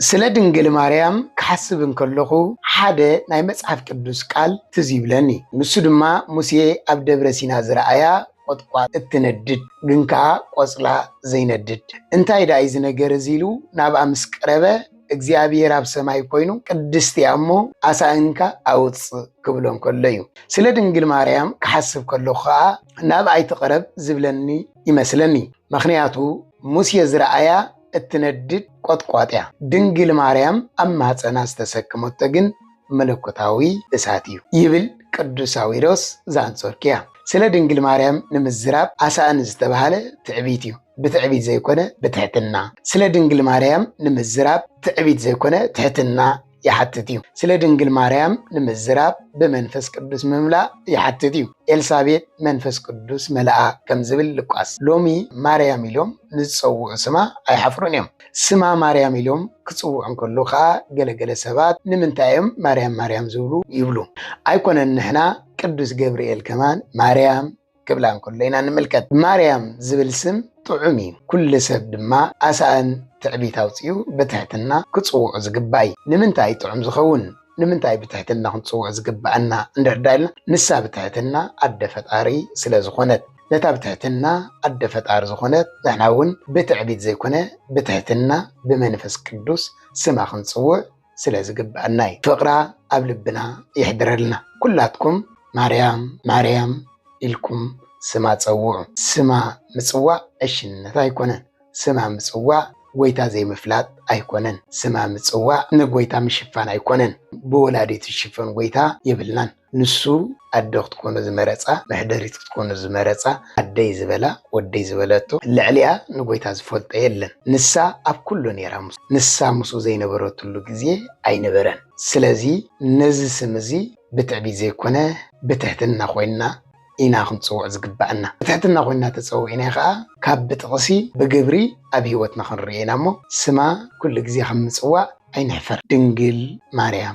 ስለ ድንግል ማርያም ክሓስብ እንከለኹ ሓደ ናይ መጽሓፍ ቅዱስ ቃል ትዝ ይብለኒ። ንሱ ድማ ሙሴ ኣብ ደብረ ሲና ዝረኣያ ቖጥቋጥ እትነድድ ግን ከኣ ቆጽላ ዘይነድድ እንታይ ደኣ እዩ እዚ ነገር እዚ ኢሉ ናብኣ ምስ ቀረበ እግዚኣብሄር ኣብ ሰማይ ኮይኑ ቅድስቲ እያ እሞ ኣሳእንካ ኣውጽእ ክብሎ እንከሎ እዩ። ስለ ድንግል ማርያም ክሓስብ ከለኹ ከኣ ናብኣ ኣይትቕረብ ዝብለኒ ይመስለኒ። ምኽንያቱ ሙሴ ዝረኣያ እትነድድ ቈጥቋጥ እያ። ድንግል ማርያም ኣብ ማህጸና ዝተሰክመቶ ግን መለኮታዊ እሳት እዩ ይብል ቅዱስ ሳዊሮስ ዘኣንጾኪያ። ስለ ድንግል ማርያም ንምዝራብ ኣሳእን ዝተባህለ ትዕቢት እዩ፣ ብትዕቢት ዘይኮነ ብትሕትና። ስለ ድንግል ማርያም ንምዝራብ ትዕቢት ዘይኮነ ትሕትና ይሓትት እዩ። ስለ ድንግል ማርያም ንምዝራብ ብመንፈስ ቅዱስ ምምላእ ይሓትት እዩ። ኤልሳቤጥ መንፈስ ቅዱስ መልኣ ከም ዝብል ሉቃስ። ሎሚ ማርያም ኢሎም ንዝጸውዑ ስማ ኣይሓፍሩን እዮም። ስማ ማርያም ኢሎም ክጽውዑ እንከሎ ከኣ ገለገለ ሰባት ንምንታይ እዮም ማርያም ማርያም ዝብሉ ይብሉ። ኣይኮነን ንሕና ቅዱስ ገብርኤል ከማን ማርያም ክብላ እንከሎ ኢና እንምልከት። ማርያም ዝብል ስም ጥዑም እዩ፣ ኩሉ ሰብ ድማ ኣሳእን ትዕቢት ኣውጺኡ ብትሕትና ክጽውዖ ዝግባእ እዩ። ንምንታይ እዩ ጥዑም ዝኸውን? ንምንታይ ብትሕትና ክንጽውዖ ዝግብኣና እንድሕር ደኣ ኢልና፣ ንሳ ብትሕትና ኣደ ፈጣሪ ስለ ዝኾነት። ነታ ብትሕትና ኣደ ፈጣሪ ዝኾነት ንሕና እውን ብትዕቢት ዘይኮነ ብትሕትና ብመንፈስ ቅዱስ ስማ ክንጽውዕ ስለ ዝግብኣና እዩ። ፍቕራ ኣብ ልብና የሕድረልና። ኩላትኩም ማርያም ማርያም ኢልኩም ስማ ጸውዑ። ስማ ምጽዋዕ ዕሽነት ኣይኮነን። ስማ ምጽዋዕ ጎይታ ዘይምፍላጥ ኣይኮነን። ስማ ምጽዋዕ ንጎይታ ምሽፋን ኣይኮነን። ብወላዲት ዝሽፈን ጎይታ የብልናን። ንሱ ኣዶ ክትኮኖ ዝመረጻ፣ መሕደሪት ክትኮኖ ዝመረጻ፣ ኣደይ ዝበላ፣ ወደይ ዝበለቶ፣ ልዕሊኣ ንጎይታ ዝፈልጦ የለን። ንሳ ኣብ ኩሉ ኔራ፣ ንሳ ምስኡ ዘይነበረትሉ ግዜ ኣይነበረን። ስለዚ ነዚ ስም እዚ ብትዕቢት ዘይኮነ ብትሕትና ኮይንና ኢና ክንጽውዕ ዝግበኣና። ብትሕትና ኮይንና ተጸዊዕና ከኣ ካብ ብጥቕሲ ብግብሪ ኣብ ህይወትና ክንርእዮ ኢና እሞ ስማ ኩሉ ግዜ ካብ ምጽዋዕ ኣይንሕፈር። ድንግል ማርያም።